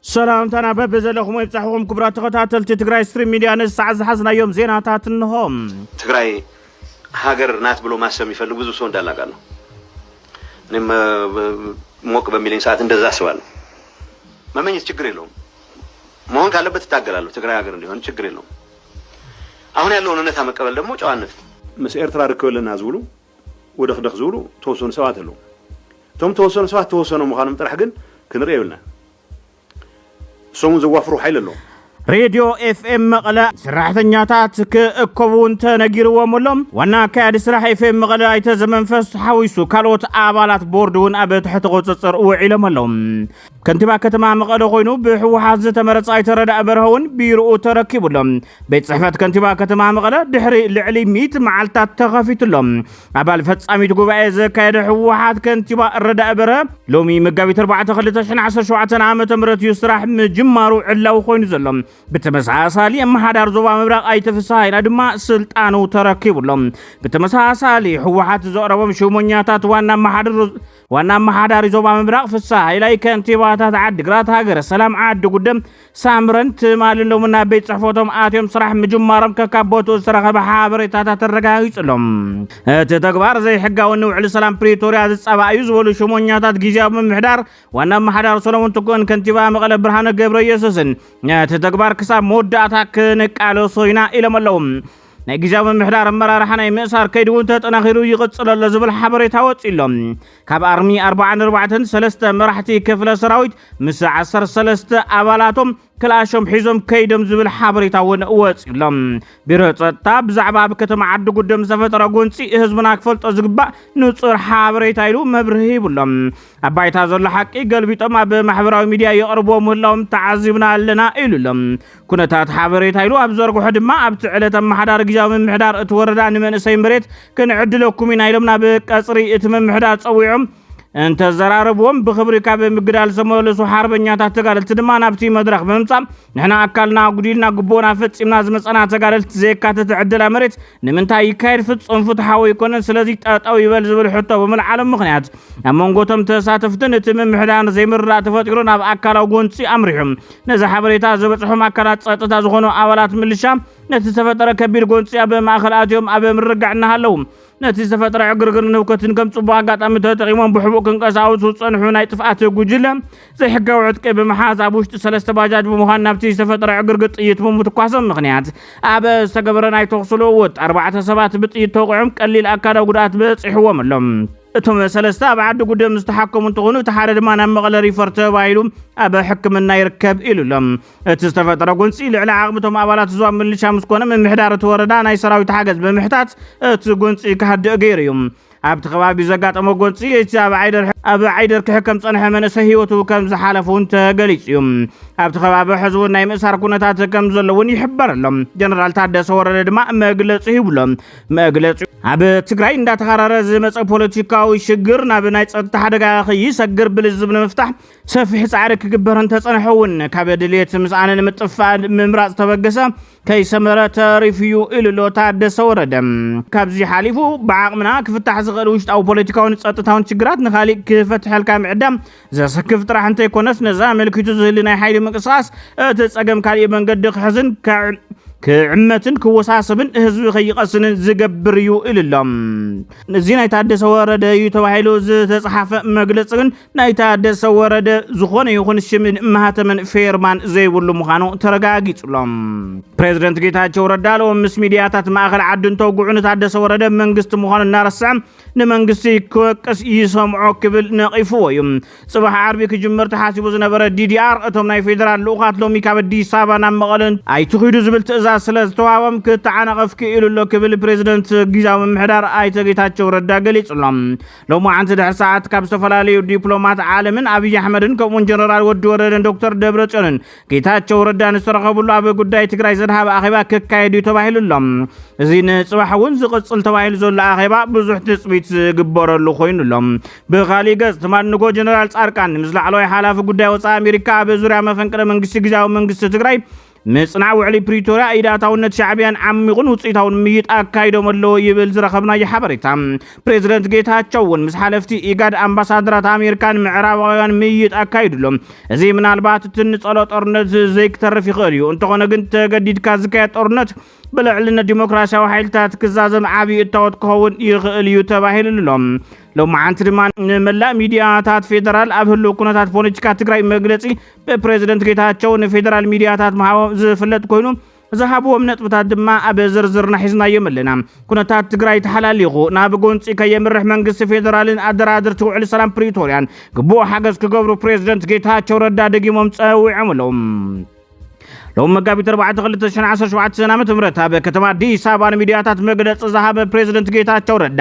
ሰላምታና በብዘለኹም ይብጻሕኹም ክቡራት ተኸታተልቲ ትግራይ ስትሪም ሚድያ ነዚ ሰዓት ዝሓዝናዮም ዜናታት እንሆም። ትግራይ ሀገር ናት ብሎ ማሰብ የሚፈልግ ብዙ ሰው እንዳለ አውቃለሁ። እኔም እ፣ ብ- ሞቅ በሚለኝ ሰዓት እንደዛ አስባለሁ። መመኘት ችግር የለውም። መሆን ካለበት እታገላለሁ። ትግራይ ሀገር እንዲሆን ችግር የለውም። አሁን ያለውን እውነታ መቀበል ደግሞ ጨዋነት ነው። ምስ ኤርትራ ርክብ ኣለና ዝብሉ ወደኽደኽ ዝብሉ ተወሰኑ ሰባት ኣለዉ። እቶም ተወሰኑ ሰባት ተወሰኑ ምዃኖም ጥራሕ ግን ክንርኢ የብልናን። እሶም እውን ዘዋፍሩ ሓይሊ ኣለዎም። ሬድዮ ኤፍኤም መቐለ ሰራሕተኛታት ክእከቡ እንተነጊርዎም ኣሎ። ዋና ኣካያዲ ስራሕ ኤፍኤም መቐለ ኣይተ ዘመንፈስ ተሓዊሱ ካልኦት ኣባላት ቦርድ እውን ኣብ ትሕቲ ቁፅፅር ውዒሎም ኣለዉ። ከንቲባ ከተማ መቐለ ኮይኑ ብህወሓት ዝተመረፀ ኣይተረዳእ በርሀ እውን ቢሮኡ ተረኪቡ ኣሎ። ቤት ጽሕፈት ከንቲባ ከተማ መቐለ ድሕሪ ልዕሊ ሚእቲ መዓልትታት ተኸፊቱሎ ኣባል ፈጻሚት ጉባኤ ዘካየደ ህወሓት ከንቲባ ረዳኢ በረ ሎሚ መጋቢት 4 2017 ዓ ም እዩ ስራሕ ምጅማሩ ዕላዊ ኮይኑ ዘሎ ብተመሳሳሊ ኣመሓዳር ዞባ ምብራቕ ኣይተፍስሃይና ድማ ስልጣኑ ተረኪቡሎ ብተመሳሳሊ ህወሓት ዘቕረቦም ሽሞኛታት ዋና ኣመሓዳሪ ዋና ኣመሓዳሪ ዞባ ምብራቕ ፍሳ ሃይላይ ከንቲባታት ዓዲግራት ሃገረ ሰላም ዓዲ ጉደም ሳምረን ትማሊ ሎሚ ናብ ቤት ጽሕፈቶም ኣትዮም ስራሕ ምጅማሮም ከካብ ቦትኡ ዝተረኸበ ሓበሬታታት ኣረጋጊጹ ኣሎ። እቲ ተግባር ዘይሕጋዊ ንውዕሊ ሰላም ፕሪቶርያ ዝጻባእ እዩ ዝበሉ ሽሞኛታት ግዝያዊ ምምሕዳር ዋና ኣመሓዳሪ ሰለሞን ትኩእን ከንቲባ መቐለ ብርሃነ ገብረየሱስን ነቲ ተግባር ክሳብ መወዳእታ ክንቃለሶ ኢና ኢሎም ኣለዉ። ናይ ግዜያዊ ምምሕዳር ኣመራርሓ ናይ ምእሳር ከይዲ እውን ተጠናኺሩ ይቕፅል ኣሎ ዝብል ሓበሬታ ወፂኡ ኣሎ ካብ ኣርሚ 44 ሰለስተ መራሕቲ ክፍለ ሰራዊት ምስ 13 ኣባላቶም ክልኣሾም ሒዞም ከይዶም ዝብል ሓበሬታ እውን ወፂኡ ኣሎ ቢሮ ፀጥታ ብዛዕባ ኣብ ከተማ ዓዲ ጉደም ዝተፈጠረ ጎንፂ ህዝብና ክፈልጦ ዝግባእ ንፁር ሓበሬታ ኢሉ መብርሂ ሂቡ ኣሎ ኣብ ባይታ ዘሎ ሓቂ ገልቢጦም ኣብ ማሕበራዊ ሚድያ የቕርብዎ ምህላዎም ተዓዚብና ኣለና ኢሉ ኣሎ ኩነታት ሓበሬታ ኢሉ ኣብ ዘርግሖ ድማ ኣብቲ ዕለት ኣመሓዳሪ ግዜያዊ ምምሕዳር እቲ ወረዳ ንመንእሰይ መሬት ክንዕድለኩም ኢና ኢሎም ናብ ቀፅሪ እቲ ምምሕዳር ፀዊዖም እንተዘራረብዎም ብክብሪ ካብ ምግዳል ዝተመለሱ ሓርበኛታት ተጋደልቲ ድማ ናብቲ መድረኽ ብምምፃእ ንሕና ኣካልና ኣጉዲልና ግቡእና ፈፂምና ዝመፀና ተጋደልቲ ዘየካተተ ዕደላ መሬት ንምንታይ ይካየድ ፍፁም ፍትሓዊ ኣይኮነን ስለዚ ጠጠው ይበል ዝብል ሕቶ ብምልዓሎም ምክንያት ኣብ መንጎቶም ተሳተፍትን እቲ ምምሕዳር ዘይምርዳእ ተፈጢሩ ናብ ኣካላዊ ጎንፂ ኣምሪሑ ነዚ ሓበሬታ ዝበጽሖም ኣካላት ጸጥታ ዝኾኑ ኣባላት ምልሻ ነቲ ዝተፈጠረ ከቢድ ጎንፂ ኣብ ማእኸል ኣትዮም ኣብ ምርጋዕ እናሃለዉ ነቲ ዝተፈጠረ ዕግርግርን ህውከትን ከም ጽቡቕ ኣጋጣሚ ተጠቒሞም ብሕቡእ ክንቀሳውሱ ዝጸንሑ ናይ ጥፍኣት ጉጅለ ዘይሕጋዊ ዕጥቂ ብምሓዝ ኣብ ውሽጢ ሰለስተ ባጃጅ ብምዃን ናብቲ ዝተፈጠረ ዕግርግር ጥይት ብምትኳሶም ምክንያት ኣብ ዝተገበረ ናይ ተኹሲ ልውውጥ ኣርባዕተ ሰባት ብጥይት ተውቂዖም ቀሊል ኣካላዊ ጉድኣት በፂሕዎም ኣሎ። እቶም ሰለስተ ኣብ ዓዲ ጉደም ዝተሓከሙ እንትኾኑ እቲ ሓደ ድማ ናብ መቐለ ሪፈር ተባሂሉ ኣብ ሕክምና ይርከብ ኢሉ ኣሎ። እቲ ዝተፈጠረ ጎንፂ ልዕሊ ዓቕምቶም ኣባላት እዙ ኣብ ምልሻ ምስ ኮነ ምምሕዳር እቲ ወረዳ ናይ ሰራዊት ሓገዝ ብምሕታት እቲ ጎንፂ ክሃድእ ገይሩ እዩ። ኣብቲ ከባቢ ዘጋጠመ ጎንፂ እቲ ኣብ ዓይደር ክሕከም ፀንሐ መንእሰይ ህይወቱ ከም ዝሓለፈ እውን ተገሊፁ እዩ። ኣብቲ ከባቢ ሕዚ እውን ናይ ምእሳር ኩነታት ከም ዘሎ እውን ይሕበር ኣሎ። ጀነራል ታደሰ ወረደ ድማ መግለፂ ሂቡ ኣሎ። መግለፂኡ ኣብ ትግራይ እንዳተኻረረ ዝመፀ ፖለቲካዊ ሽግር ናብ ናይ ፀጥታ ሓደጋ ከይሰግር ብልዝብ ንምፍታሕ ሰፊሕ ፃዕሪ ክግበር እንተፀንሐ እውን ካብ ድሌት ምስኣነ ንምጥፋእ ምምራፅ ተበገሰ ከይሰመረ ተሪፉ እዩ ኢሉ ኣሎ ታደሰ ወረደ። ካብዚ ሓሊፉ ብዓቕምና ክፍታሕ ዝኽእል ውሽጣዊ ፖለቲካውን ፀጥታውን ሽግራት ንካሊእ ክፈትሐልካ ምዕዳም ዘሰክፍ ጥራሕ እንተይኮነስ ነዛ ኣመልኪቱ ዝህሊ ናይ ሓይሊ ምንቅስቓስ እቲ ጸገም ካሊእ መንገዲ ክሕዝን ክዕመትን ክወሳሰብን ህዝቢ ከይቀስንን ዝገብር እዩ ኢሉ ኣሎ እዚ ናይ ታደሰ ወረደ እዩ ተባሂሉ ዝተፅሓፈ መግለፂ ግን ናይ ታደሰ ወረደ ዝኾነ ይኹን ሽምን ማህተምን ፌርማን ዘይብሉ ምዃኑ ተረጋጊፁሎም ፕሬዚደንት ጌታቸው ረዳ ሎም ምስ ሚድያታት ማእኸል ዓዲ እንተውግዑ ንታደሰ ወረደ መንግስቲ ምዃኑ እናረስዐ ንመንግስቲ ክወቅስ ይሰምዖ ክብል ነቒፍዎ እዩ። ጽባሕ ዓርቢ ክጅምር ተሓሲቡ ዝነበረ ዲዲኣር እቶም ናይ ፌደራል ልኡኻት ሎሚ ካብ ኣዲስ ኣበባ ናብ መቐለ ኣይትኺዱ ዝብል ትእዛዝ ስለ ዝተዋህቦም ክተዓናቐፍ ክኢሉ ኣሎ ክብል ፕሬዚደንት ግዝያዊ ምምሕዳር ኣይተ ጌታቸው ረዳ ገሊጹ ኣሎ። ሎማዓንቲ ድሕሪ ሰዓት ካብ ዝተፈላለዩ ዲፕሎማት ዓለምን ኣብይ ኣሕመድን ከምኡውን ጀነራል ወዲ ወረደን ዶክተር ደብረጽዮንን ጌታቸው ረዳ ንዝተረኸብሉ ኣብ ጉዳይ ትግራይ ዘድሃበ ኣኼባ ክካየድ እዩ ተባሂሉ ኣሎ። እዚ ንፅባሕ እውን ዝቕፅል ተባሂሉ ዘሎ ኣኼባ ብዙሕ ትፅቢት ዝግበረሉ ኮይኑ ኣሎ። ብካሊእ ገፅ ትማል ንጎ ጀነራል ፃድቃን ምስ ላዕለዋይ ሓላፊ ጉዳይ ወፃኢ ኣሜሪካ ኣብ ዙርያ መፈንቅለ መንግስቲ ግዜያዊ መንግስቲ ትግራይ ምፅናዕ ውዕሊ ፕሪቶርያ ኢድ ኣታውነት ሻዕቢያን ዓሚቑን ውፅኢታውን ምይይጥ ኣካይዶም ኣለዎ ይብል ዝረኸብናዮ ሓበሬታ። ፕሬዝደንት ጌታቸው እውን ምስ ሓለፍቲ ኢጋድ ኣምባሳደራት ኣሜሪካን ምዕራባውያን ምይይጥ ኣካይዱ ኣሎ። እዚ ምናልባት እቲ ንጸሎ ጦርነት ዘይክተርፍ ይኽእል እዩ። እንተኾነ ግን ተገዲድካ ዝካየድ ጦርነት ብልዕልነት ዲሞክራሲያዊ ሓይልታት ክዛዘም ዓብዪ እታወት ክኸውን ይኽእል እዩ ተባሂሉ ኣሎ። ሎማዓንቲ ድማ ንመላእ ሚዲያታት ፌዴራል ኣብ ህልው ኩነታት ፖለቲካ ትግራይ መግለፂ ብፕሬዝደንት ጌታቸው ንፌዴራል ሚዲያታት ምሃቦም ዝፍለጥ ኮይኑ ዝሃብዎም ነጥብታት ድማ ኣብ ዝርዝርና ሒዝናዮም ኣለና። ኩነታት ትግራይ ተሓላሊኹ ናብ ጎንፂ ከየምርሕ መንግስቲ ፌደራልን ኣደራድርቲ ውዕሊ ሰላም ፕሪቶርያን ግቡእ ሓገዝ ክገብሩ ፕሬዝደንት ጌታቸው ረዳ ደጊሞም ፀዊዖም ኣለዉ። ሎሚ መጋቢት 4 2017 ዓ.ም ኣብ ከተማ ኣዲስ ኣበባ ንሚድያታት መግለፂ ዝሃበ ፕሬዝደንት ጌታቸው ረዳ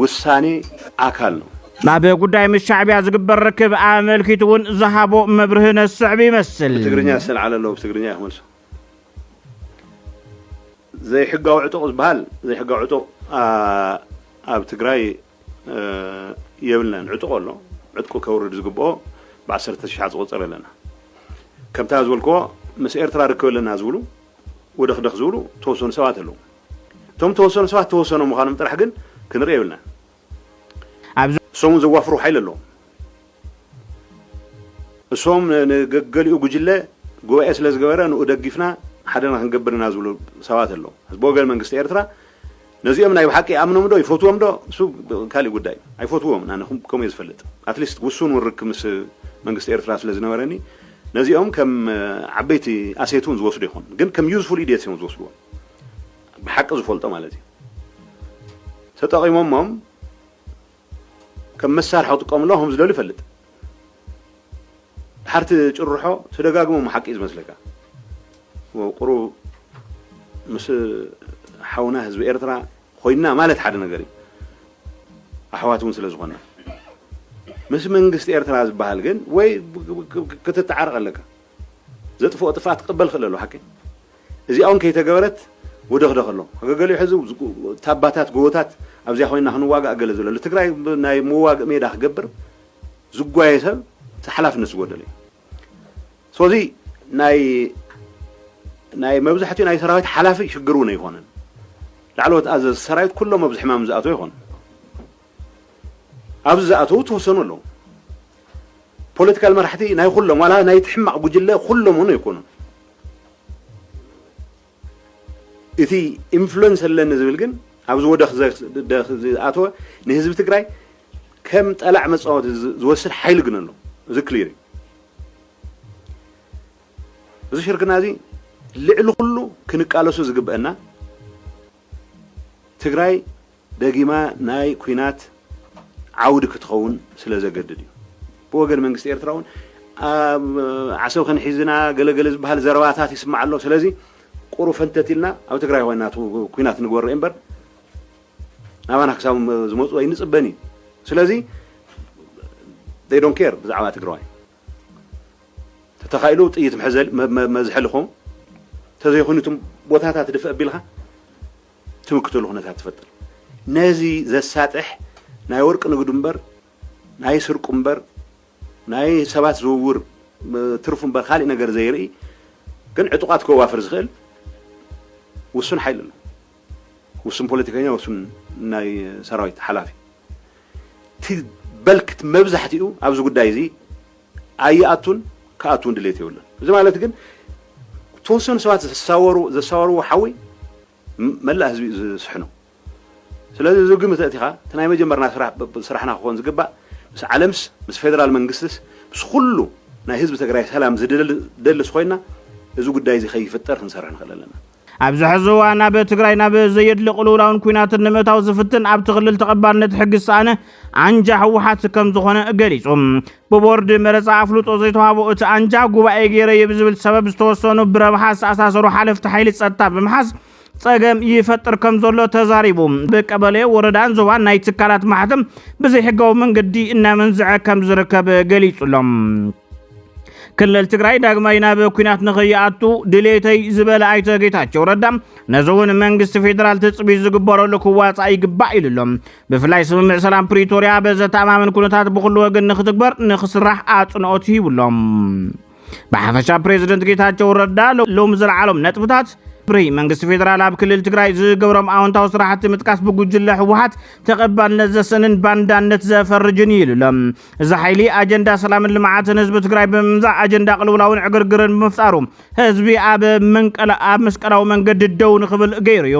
ውሳኔ ኣካል ነው። ናብ ጉዳይ ምስ ሻዕቢያ ዝግበር ርክብ ኣመልኪቱ እውን ዝሃቦ መብርሂ ነስዕብ ይመስል። ብትግርኛ ዝተልዓለ ኣሎ ብትግርኛ እዩ ክመልሶ። ዘይሕጋዊ ዕጡቕ ዝበሃል ዘይሕጋዊ ዕጡቕ ኣብ ትግራይ የብልናን። ዕጡቕ ኣሎ ዕጥቁ ከውርድ ዝግብኦ ብዓሰርተ ሽሓት ዝቑፀር ኣለና። ከምታ ዝበልክዎ ምስ ኤርትራ ርክብ ኣለና ዝብሉ ወደኽደኽ ዝብሉ ተወሰኑ ሰባት ኣለዉ። እቶም እተወሰኑ ሰባት እተወሰኑ ምዃኖም ጥራሕ ግን ክንርኢ የብልናን። ኣብዚ። እሶም እውን ዘዋፍሩ ሓይሊ ኣለዎም። እሶም ንገገሊኡ ጉጅለ ጉባኤ ስለ ዝገበረ ንኡ ደጊፍና ሓደና ክንገብር ኢና ዝብሉ ሰባት ኣለዉ። ሕዚ ብወገን መንግስቲ ኤርትራ ነዚኦም ናይ ብሓቂ ይኣምኖምዶ ይፈትዎምዶ እሱ ካሊእ ጉዳይ እዩ። ኣይፈትዎምን ኣነ ከምኡ እየ ዝፈልጥ። ኣትሊስት ውሱን እውን ርክብ ምስ መንግስቲ ኤርትራ ስለ ዝነበረኒ ነዚኦም ከም ዓበይቲ ኣሴት እውን ዝወስዱ ኣይኮኑን። ግን ከም ዩዝፉል ኢድየትስ እዮም ዝወስድዎም። ብሓቂ ዝፈልጦ ማለት እዩ ተጠቒሞሞም ከም መሳርሒ ክጥቀምሎ ከም ዝደሉ ይፈልጥ ድሓርቲ ጭርሖ ተደጋግሞም ሓቂ እዩ ዝመስለካ ቁሩብ ምስ ሓውና ህዝቢ ኤርትራ ኮይና ማለት ሓደ ነገር እዩ ኣሕዋት እውን ስለ ዝኾና ምስ መንግስቲ ኤርትራ ዝበሃል ግን ወይ ክትተዓረቕ ኣለካ ዘጥፍኦ ጥፍኣት ክቅበል ይኽእል ኣሎ ሓቂ እዚኣ ውን ከይተገበረት ወደኽደኽ ኣሎ ገገሊኡ ሕዚ ታባታት ጎቦታት ኣብዚኣ ኮይና ክንዋጋእ ገለ ዝብለ ኣሎ ትግራይ ናይ መዋግእ ሜዳ ክገብር ዝጓየ ሰብ ሓላፍነት ዝጎደለ እዩ ስለዚ ናይ ናይ መብዛሕትኡ ናይ ሰራዊት ሓላፊ ሽግር እውን ኣይኮነን ላዕለዎት ኣዘዝ ሰራዊት ኩሎም ኣብዚ ሕማም ዝኣተው ይኾኑ ኣብዚ ዝኣተዉ ትወሰኑ ኣለዉ ፖለቲካል መራሕቲ ናይ ኩሎም ዋላ ናይቲ ሕማቕ ጉጅለ ኩሎም እውን ኣይኮኑን እቲ ኢንፍሉንስ ኣለኒ ዝብል ግን ኣብዚ ወደኽ ዝኣተወ ንህዝቢ ትግራይ ከም ጠላዕ መፃወቲ ዝወስድ ሓይሊ ግን ኣሎ እዚ ክሊር እዩ እዚ ሽርክና እዚ ልዕሊ ኩሉ ክንቃለሱ ዝግበአና ትግራይ ደጊማ ናይ ኩናት ዓውዲ ክትኸውን ስለዘገድድ እዩ። ብወገን መንግስቲ ኤርትራ እውን ኣብ ዓሰብ ከንሒዝ ኢና ገለገለ ዝበሃል ዘረባታት ይስማዕ ኣሎ። ስለዚ ቁሩ ፈንተት ኢልና ኣብ ትግራይ ኮይና ኩናት ንግበር ርእ እምበር ናባና ክሳብ ዝመፁ ኣይንፅበን እዩ። ስለዚ they don't care ብዛዕባ ትግራዋይ። ተተኻኢሉ ጥይት መሕዘሊ መ- መዝሐሊ ክኸውን ተዘይኮይኑ እቶም ቦታታት ድፍእ ኣቢልካ ትምክተሉ ኩነታት ትፈጥር ነዚ ዘሳጥሕ ናይ ወርቂ ንግዱ እምበር ናይ ስርቁ እምበር ናይ ሰባት ዝውውር እ፣ ትርፉ እምበር ካሊእ ነገር ዘይርኢ ግን ዕጡቓት ከዋፍር ዝኽእል ውሱን ሓይሊ ኣሎ ውሱን ፖለቲከኛ ውሱን ናይ ሰራዊት ሓላፊ እቲ በልክ እቲ መብዛሕቲኡ ኣብዚ ጉዳይ እዚ ኣይኣቱን ክኣቱ እውን ድሌት የብሉን እዚ ማለት ግን ተወሰኑ ሰባት ዘሳወሩ ዘሳወርዎ ሓዊ መላእ ህዝቢ እዩ ዝስሕኖ ስለዚ እዚ ግምት ኣእቲኻ እቲ ናይ መጀመርና ስራሕ ስራሕና ክኾን ዝግባእ ምስ ዓለምስ ምስ ፌደራል መንግስትስ ምስ ኩሉ ናይ ህዝቢ ትግራይ ሰላም ዝደልስ ኮይና እዚ ጉዳይ እዚ ከይፍጠር ክንሰርሕ ንኽእል ኣለና ኣብዚ ሕዚ እዋን ኣብ ትግራይ ናብ ዘየድሊ ቅልውላውን ኩናትን ንምእታው ዝፍትን ኣብቲ ክልል ተቐባልነት ሕጊ ዝሰኣነ ኣንጃ ህወሓት ከም ዝኾነ ገሊጹ። ብቦርድ መረፃ ኣፍልጦ ዘይተዋህቦ እቲ ኣንጃ ጉባኤ ገይረ እየ ብዝብል ሰበብ ዝተወሰኑ ብረብሓ ዝተኣሳሰሩ ሓለፍቲ ሓይሊ ፀጥታ ብምሓዝ ፀገም ይፈጥር ከም ዘሎ ተዛሪቡ። ብቀበሌ ወረዳን ዞባን ናይ ትካላት ማሕተም ብዘይሕጋዊ መንገዲ እናመንዝዐ ከም ዝርከብ ገሊጹ ኣሎ። ክልል ትግራይ ዳግማይ ናብ ኩናት ንኸይኣቱ ድሌተይ ዝበለ ኣይተ ጌታቸው ረዳ ነዚ እውን መንግስቲ ፌዴራል ትፅቢት ዝግበረሉ ክዋፃእ ይግባእ ኢሉ ኣሎ። ብፍላይ ስምምዕ ሰላም ፕሪቶሪያ በዘተኣማምን ኩነታት ብኩሉ ወገን ንክትግበር ንክስራሕ ኣፅንኦት ሂቡ ኣሎ። ብሓፈሻ ፕሬዚደንት ጌታቸው ረዳ ሎም ዝለዓሎም ነጥብታት ፕሪ መንግስቲ ፌዴራል ኣብ ክልል ትግራይ ዝገብሮም ኣዎንታዊ ስራሕቲ ምጥቃስ ብጉጅለ ህወሓት ተቐባልነት ዘሰንን ባንዳነት ዘፈርጅን እዩ ኢሉ ኣሎ። እዚ ሓይሊ ኣጀንዳ ሰላምን ልምዓትን ህዝቢ ትግራይ ብምምዛዕ ኣጀንዳ ቅልውላውን ዕግርግርን ብምፍጣሩ ህዝቢ ኣብ መንቀላ ኣብ መስቀላዊ መንገዲ ደው ንክብል ገይሩ እዩ።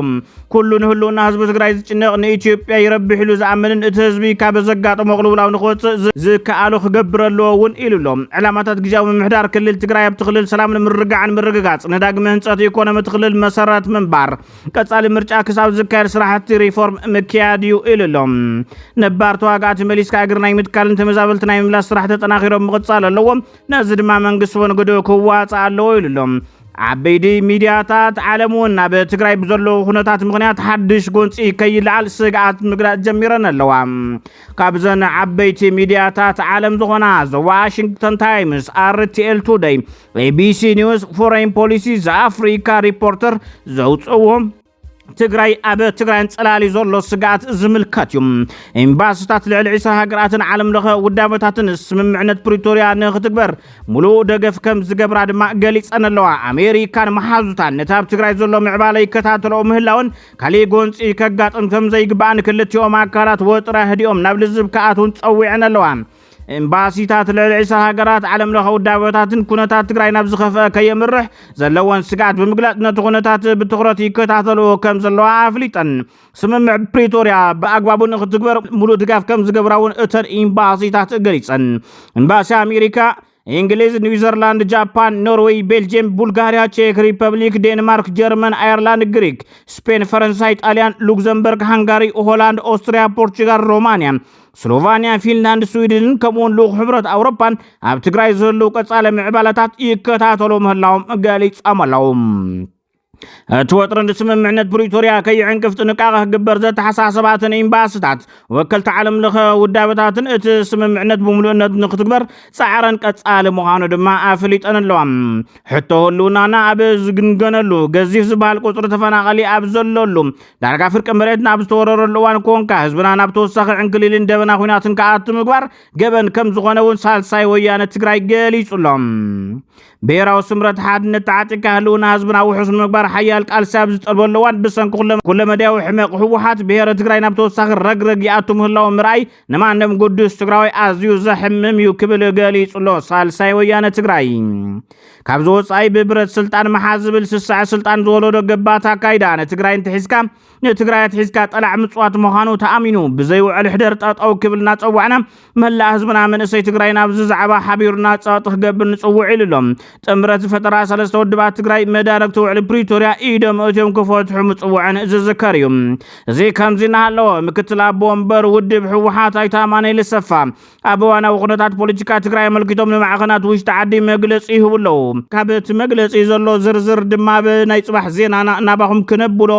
ኩሉ ንህልውና ህዝቢ ትግራይ ዝጭነቕ ንኢትዮጵያ ይረብሕ ኢሉ ዝኣምንን እቲ ህዝቢ ካብ ዘጋጠሞ ቅልውላው ንክወፅእ ዝ- ዝከኣሎ ክገብር ኣለዎ እውን ኢሉ ኣሎ። ዕላማታት ግዝያዊ ምምሕዳር ክልል ትግራይ ኣብቲ ክልል ሰላምን ምርግጋዕን ምርግጋፅ፣ ንዳግመ ህንፀት ኢኮኖሚ እቲ ክልል መሰረት ምንባር፣ ቀፃሊ ምርጫ ክሳብ ዝካየድ ስራሕቲ ሪፎርም ምክያድ እዩ ኢሉ ኣሎ። ነባር ተዋጋእቲ መሊስካ እግሪ ናይ ምትካልን ተመዛበልቲ ናይ ምምላስ ስራሕ ተጠናኺሮም ምቕፃል ኣለዎም፣ ነዚ ድማ መንግስቲ እውን ግድኡ ክዋፃእ ኣለዎ ኢሉ ኣሎ። ዓበይቲ ሚድያታት ዓለም እውን ኣብ ትግራይ ብዘለዎ ኩነታት ምክንያት ሓድሽ ጎንፂ ከይለዓል ስግኣት ምግላፅ ጀሚረን ኣለዋ። ካብዘን ዓበይቲ ሚድያታት ዓለም ዝኾና ዘ ዋሽንግተን ታይምስ፣ ኣርቲኤል ቱደይ፣ ቢቢሲ ኒውስ ፎረይን ፖሊሲ ዘኣፍሪካ ሪፖርተር ዘውፅዎ ትግራይ ኣብ ትግራይ ኣንጸላሊ ዘሎ ስግኣት ዝምልከት እዩ ኤምባስታት ልዕሊ 20 ሃገራትን ዓለም ለኸ ውዳበታትን ስምምዕነት ፕሪቶርያ ንክትግበር ሙሉእ ደገፍ ከም ዝገብራ ድማ ገሊፀን ኣለዋ ኣሜሪካን መሓዙታን ነቲ ኣብ ትግራይ ዘሎ ምዕባለ ይከታተለኦ ምህላውን ካሊእ ጎንፂ ከጋጥም ከም ዘይግባእን ክልቲኦም ኣካላት ወጥራ ህዲኦም ናብ ልዝብ ክኣትውን ፀዊዐን ኣለዋ ኤምባሲታት ልዕሊ ዕስራ ሃገራት ዓለም ለኸ ውዳበታትን ኩነታት ትግራይ ናብ ዝኸፍአ ከየምርሕ ዘለወን ስግኣት ብምግላፅ ነቲ ኩነታት ብትኹረት ይከታተልዎ ከም ዘለዋ ኣፍሊጠን ስምምዕ ፕሪቶርያ ብኣግባቡ ንክትግበር ሙሉእ ድጋፍ ከም ዝገብራ እውን እተን ኤምባሲታት ገሊፀን ኤምባሲ ኣሜሪካ እንግሊዝ፣ ኒውዘርላንድ፣ ጃፓን፣ ኖርዌይ፣ ቤልጅየም፣ ቡልጋሪያ፣ ቼክ ሪፐብሊክ፣ ዴንማርክ፣ ጀርመን፣ ኣየርላንድ፣ ግሪክ፣ ስፔን፣ ፈረንሳይ፣ ጣልያን፣ ሉክዘምበርግ፣ ሃንጋሪ፣ ሆላንድ፣ ኦስትሪያ፣ ፖርቹጋል፣ ሮማንያ፣ ስሎቫንያ፣ ፊንላንድ፣ ስዊድንን ከምኡውን ልኡኽ ሕብረት ኣውሮፓን ኣብ ትግራይ ዘለዉ ቀጻሊ ምዕባለታት ይከታተሉ ምህላዎም ገሊጾም ኣለዉ። እቲ ወጥሪ ንስምምዕነት ፕሪቶርያ ከይዕንቅፍ ጥንቃቐ ክግበር ዘተሓሳሰባትን ኤምባስታት ወከልቲ ዓለም ለኸ ውዳበታትን እቲ ስምምዕነት ብምሉእነት ንክትግበር ፃዕረን ቀፃሊ ምዃኑ ድማ ኣፍሊጠን ኣለዋ። ሕቶ ህልውናና ኣብ ዝግንገነሉ ገዚፍ ዝበሃል ቁፅሪ ተፈናቐሊ ኣብ ዘለሉ ዳርጋ ፍርቂ መሬት ናብ ዝተወረረሉ እዋን ኮንካ ህዝብና ናብ ተወሳኺ ዕንክሊልን ደበና ኩናትን ክኣቱ ምግባር ገበን ከም ዝኾነ እውን ሳልሳይ ወያነ ትግራይ ገሊፁ ኣሎ። ብሄራዊ ስምረት ሓድነት ተዓጢቅካ ህልውና ህዝብና ውሑስ ንምግባር ሓያል ቃልሲ ኣብ ዝጠልበሉ እዋን ብሰንኪ ኩለመዳያዊ ሕመቕ ህወሓት ብሄረ ትግራይ ናብ ተወሳኺ ረግረግ ይኣቱ ምህላው ምርኣይ ንማንም ግዱስ ትግራዋይ ኣዝዩ ዘሕምም እዩ ክብል ገሊጹ ኣሎ ሳልሳይ ወያነ ትግራይ። ካብዚ ወፃኢ ብብረት ስልጣን መሓዝ ዝብል ስሳዐ ስልጣን ዝወለዶ ገባት ኣካይዳ ንትግራይ እንትሒዝካ ንትግራይ ኣትሒዝካ ጠላዕ ምፅዋት ምዃኑ ተኣሚኑ ብዘይ ውዕል ሕደር ጠጠው ክብል እናፀዋዕና መላእ ህዝብና መንእሰይ ትግራይ ናብዚ ዛዕባ ሓቢሩና ፀቕጢ ክገብር ንፅውዕ ኢሉ ኣሎ። ጥምረት ዝፈጠራ ሰለስተ ውድባት ትግራይ መዳርግቲ ውዕሊ ፕሪቶርያ ኢዶም እትዮም ክፈትሑ ምፅውዐን ዝዝከር እዩ። እዚ ከምዚ እናሃለወ ምክትል ኣቦ ወንበር ውድብ ህወሓት ኣይተ ኣማኑኤል ኣሰፋ ኣብ እዋናዊ ኩነታት ፖለቲካ ትግራይ ኣመልኪቶም ንማዕኸናት ውሽጢ ዓዲ መግለፂ ይህቡ ኣለዉ። ካብ እቲ መግለፂ ዘሎ ዝርዝር ድማ ኣብ ናይ ፅባሕ ዜናና ናባኹም ክነብሎ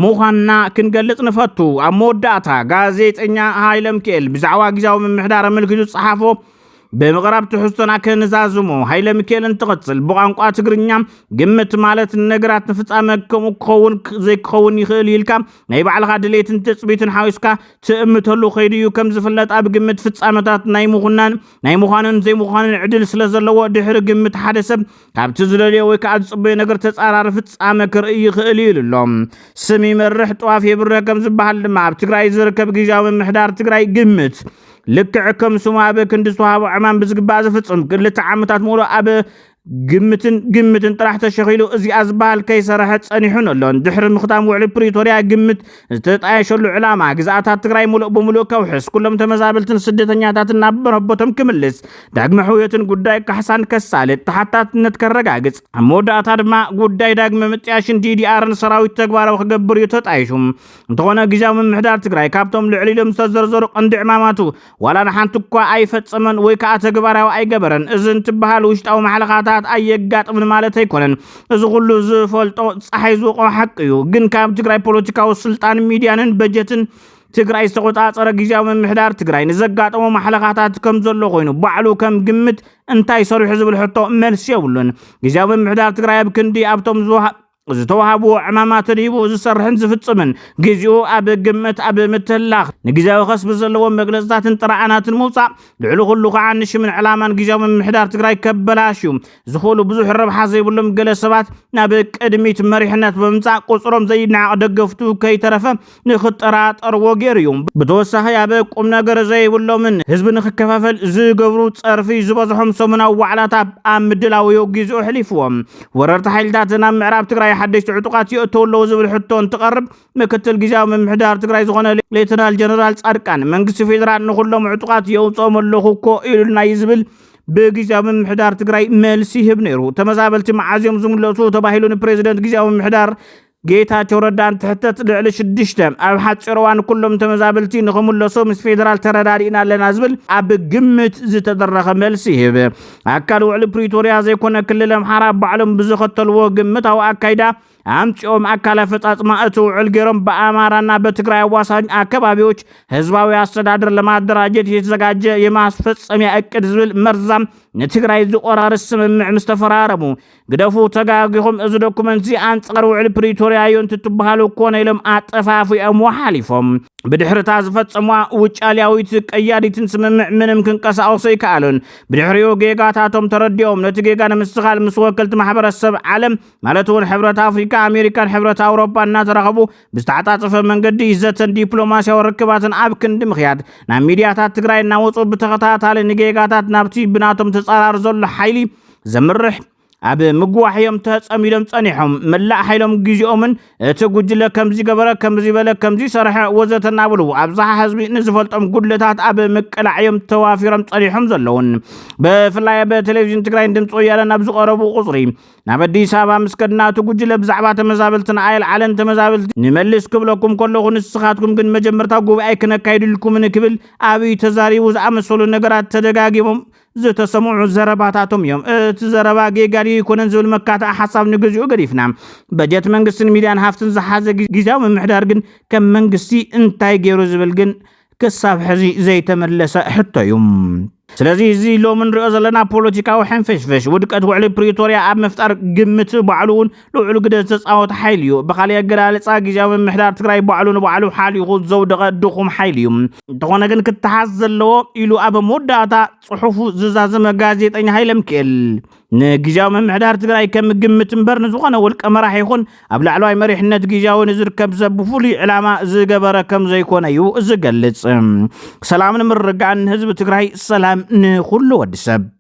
ምዃንና ክንገልፅ ንፈቱ። ኣብ መወዳእታ ጋዜጠኛ ሃይለምኪኤል ብዛዕባ ግዝያዊ ምምሕዳር ኣመልኪቱ ዝፀሓፎ ብምቕራብ ትሕዝቶና ከንዛዝሞ ሃይለምኪኤል እንትቕፅል ብቋንቋ ትግርኛ ግምት ማለት ነገራት ንፍፃመ ከምኡ ክኸውን ዘይክኸውን ይኽእል ኢልካ ናይ ባዕልኻ ድሌትን ትፅቢትን ሓዊስካ ትእምተሉ ከይዱ እዩ ከም ዝፍለጥ ኣብ ግምት ፍጻመታት ናይ ምኹናን ናይ ምዃንን ዘይምዃንን ዕድል ስለ ዘለዎ ድሕሪ ግምት ሓደ ሰብ ካብቲ ዝደልዮ ወይ ከዓ ዝፅበዮ ነገር ተፃራሪ ፍጻመ ክርኢ ይኽእል እዩ ኢሉ ኣሎ። ስም ይመርሕ ጥዋፍ የብርህ ከም ዝበሃል ድማ ኣብ ትግራይ ዝርከብ ግዣዊ ምምሕዳር ትግራይ ግምት ልክዕ ከም ስሙ ኣብ ክንዲ ዝተዋህቦ ዕማም ብዝግባእ ዝፍጽም ክልተ ዓመታት ሙሉእ ኣብ ግምትን ግምትን ጥራሕ ተሸኺሉ እዚኣ ዝበሃል ከይሰረሐ ጸኒሑን ኣሎን። ድሕሪ ምኽታም ውዕሊ ፕሪቶርያ ግምት ዝተጣየሸሉ ዕላማ ግዝኣታት ትግራይ ሙሉእ ብሙሉእ ከውሕስ፣ ኩሎም ተመዛበልትን ስደተኛታትን ናብ መረቦቶም ክምልስ፣ ዳግመ ሕውየትን ጉዳይ ካሕሳን ከሳልጥ፣ ተሓታትነት ከረጋግጽ፣ ኣብ መወዳእታ ድማ ጉዳይ ዳግመ ምጥያሽን ዲዲኣርን ሰራዊት ተግባራዊ ክገብር እዩ ተጣይሹ። እንተኾነ ግዝያዊ ምምሕዳር ትግራይ ካብቶም ልዕል ኢሎም ዝተዘርዘሩ ቀንዲ ዕማማቱ ዋላ ንሓንቲ እኳ ኣይፈጸመን ወይ ከዓ ተግባራዊ ኣይገበረን እዚ እንትበሃል ውሽጣዊ ማሕለኻታት ኣየጋጥምን ማለት ኣይኮነን። እዚ ኩሉ ዝፈልጦ ፀሓይ ዝወቆ ሓቂ እዩ። ግን ካብ ትግራይ ፖለቲካዊ ስልጣን ሚዲያንን በጀትን ትግራይ ዝተቆፃፀረ ግዜያዊ ምምሕዳር ትግራይ ንዘጋጠሞ ማሕለኻታት ከም ዘሎ ኮይኑ ባዕሉ ከም ግምት እንታይ ሰሪሑ ዝብል ሕቶ መልሲ የብሉን። ግዜያዊ ምምሕዳር ትግራይ ኣብ ክንዲ ኣብቶም ዝተዋህብዎ ዕማማት ርሂቡ ዝሰርሕን ዝፍፅምን ግዜኡ ኣብ ግምት ኣብ ምትህላኽ ንግዜያዊ ከስቢ ዘለዎም መግለፅታትን ጥራኣናትን ምውፃእ ልዕሊ ኩሉ ከዓ ንሽምን ዕላማን ግዜያዊ ምምሕዳር ትግራይ ከበላሽዩ ዝኽእሉ ብዙሕ ረብሓ ዘይብሎም ገለ ሰባት ናብ ቅድሚት መሪሕነት ብምምፃእ ቁፅሮም ዘይነዓቕ ደገፍቱ ከይተረፈ ንኽጠራጠርዎ ገይሩ እዩ። ብተወሳኺ ኣብ ቁም ነገር ዘይብሎምን ህዝቢ ንኽከፋፈል ዝገብሩ ጸርፊ ዝበዝሖም ሰሙናዊ ዋዕላታት ኣብ ምድላው እዩ ጊዚኡ ኣሕሊፍዎ። ወረርቲ ሓይልታት ናብ ምዕራብ ትግራይ ሓደሽቲ ዕጡቓት የእተው ኣለው ዝብል ሕቶ እንትቐርብ ምክትል ጊዚያዊ ምምሕዳር ትግራይ ዝኾነ ሌተናል ጀነራል ጻድቃን መንግስቲ ፌደራል ንኹሎም ዕጡቓት የውጽኦም ኣለኹ እኮ ኢሉና እዩ ዝብል ብጊዚያዊ ምምሕዳር ትግራይ መልሲ ይህብ ነይሩ። ተመዛበልቲ መዓዝ እዮም ዝምለሱ ተባሂሉ ንፕሬዚደንት ጊዚያዊ ምምሕዳር ጌታቸው ረዳ እንትሕተት ልዕሊ ሽዱሽተ ኣብ ሓፂር እዋን ኩሎም ተመዛበልቲ ንክምለሱ ምስ ፌዴራል ተረዳዲእና ኣለና ዝብል ኣብ ግምት ዝተደረኸ መልሲ ይህብ። ኣካል ውዕሊ ፕሪቶሪያ ዘይኮነ ክልል ኣምሓራ ባዕሎም ብዝኸተልዎ ግምታዊ ኣካይዳ ኣምፂኦም ኣካል ኣፈፃፅማ እቲ ውዕል ገይሮም በኣማራና በትግራይ ኣዋሳኝ ኣከባቢዎች ህዝባዊ ኣስተዳደር ለማደራጀት የተዘጋጀ የማስፈፀሚያ እቅድ ዝብል መርዛም ንትግራይ ዝቆራርስ ስምምዕ ምስ ተፈራረሙ ግደፉ ተጋጊኹም እዚ ዶኩመንትዚ ኣንጻር ውዕሊ ፕሪቶርያ እዩ እንትትበሃሉ ኮነ ኢሎም ኣጠፋፊኦምዎ ሓሊፎም ብድሕርታ ዝፈጸምዋ ውጫልያዊት ቀያዲትን ስምምዕ ምንም ክንቀሳቐሱ ኣይከኣሉን። ብድሕሪኡ ጌጋታቶም ተረዲኦም ነቲ ጌጋ ንምስትኻል ምስ ወከልቲ ማሕበረሰብ ዓለም ማለት እውን ሕብረት ኣፍሪካ፣ ኣሜሪካን ሕብረት ኣውሮፓ እናተራኸቡ ብዝተዓፃፀፈ መንገዲ ዘተን ዲፕሎማሲያዊ ርክባትን ኣብ ክንዲ ምኽያድ ናብ ሚዲያታት ትግራይ እናወፁ ብተኸታታሊ ንጌጋታት ናብቲ ብናቶም ተፃራሪ ዘሎ ሓይሊ ዘምርሕ ኣብ ምግዋሕ እዮም ተጸሚዶም ጸኒሖም። መላእ ሓይሎም ግዜኦምን እቲ ጉጅለ ከምዚ ገበረ፣ ከምዚ በለ፣ ከምዚ ሰርሐ ወዘተ እናበሉ ኣብዝሓ ህዝቢ ንዝፈልጦም ጉድለታት ኣብ ምቅላዕ እዮም ተዋፊሮም ጸኒሖም ዘለውን። ብፍላይ ኣብ ቴሌቪዥን ትግራይን ድምፂ ወያነን ኣብ ዝቐረቡ ቁፅሪ ናብ ኣዲስ ኣበባ ምስ ከድና እቲ ጉጅለ ብዛዕባ ተመዛበልትና ኣየልዓለን ተመዛበልቲ ንመልስ ክብለኩም ከለኹ ንስኻትኩም ግን መጀመርታ ጉባኤ ክነካይድልኩምን ክብል ኣብይ ተዛሪቡ ዝኣመሰሉ ነገራት ተደጋጊሞም ዝተሰምዑ ዘረባታቶም እዮም። እቲ ዘረባ ጌጋ ድዩ ኣይኮነን ዝብል መካትዒ ሓሳብ ንግዚኡ ገዲፍና፣ በጀት መንግስትን ሚድያን ሃፍትን ዝሓዘ ጊዚያዊ ምምሕዳር ግን ከም መንግስቲ እንታይ ገይሩ ዝብል ግን ክሳብ ሕዚ ዘይተመለሰ ሕቶ እዩ። ስለዚ እዚ ሎሚ ንሪኦ ዘለና ፖለቲካዊ ሕንፍሽፍሽ ውድቀት ውዕሊ ፕሪቶርያ ኣብ ምፍጣር ግምት ባዕሉ እውን ልዑል ግደ ዝተፃወተ ሓይሊ እዩ። ብካሊእ ኣገላልፃ ግዝያዊ ምምሕዳር ትግራይ ባዕሉ ንባዕሉ ሓሊኹ ዘውደቐ ድኹም ሓይሊ እዩ። እንተኾነ ግን ክተሓዝ ዘለዎ ኢሉ ኣብ መወዳእታ ፅሑፉ ዝዛዘመ ጋዜጠኛ ሃይለምክኤል ንግዝያዊ ምምሕዳር ትግራይ ከም ግምት እምበር ንዝኾነ ውልቀ መራሕ ይኹን ኣብ ላዕለዋይ መሪሕነት ግዝያዊ ንዝርከብ ሰብ ብፍሉይ ዕላማ ዝገበረ ከም ዘይኮነ እዩ ዝገልፅ። ሰላምን ምርግጋእን ንህዝቢ ትግራይ፣ ሰላም ንኹሉ ወዲ ሰብ።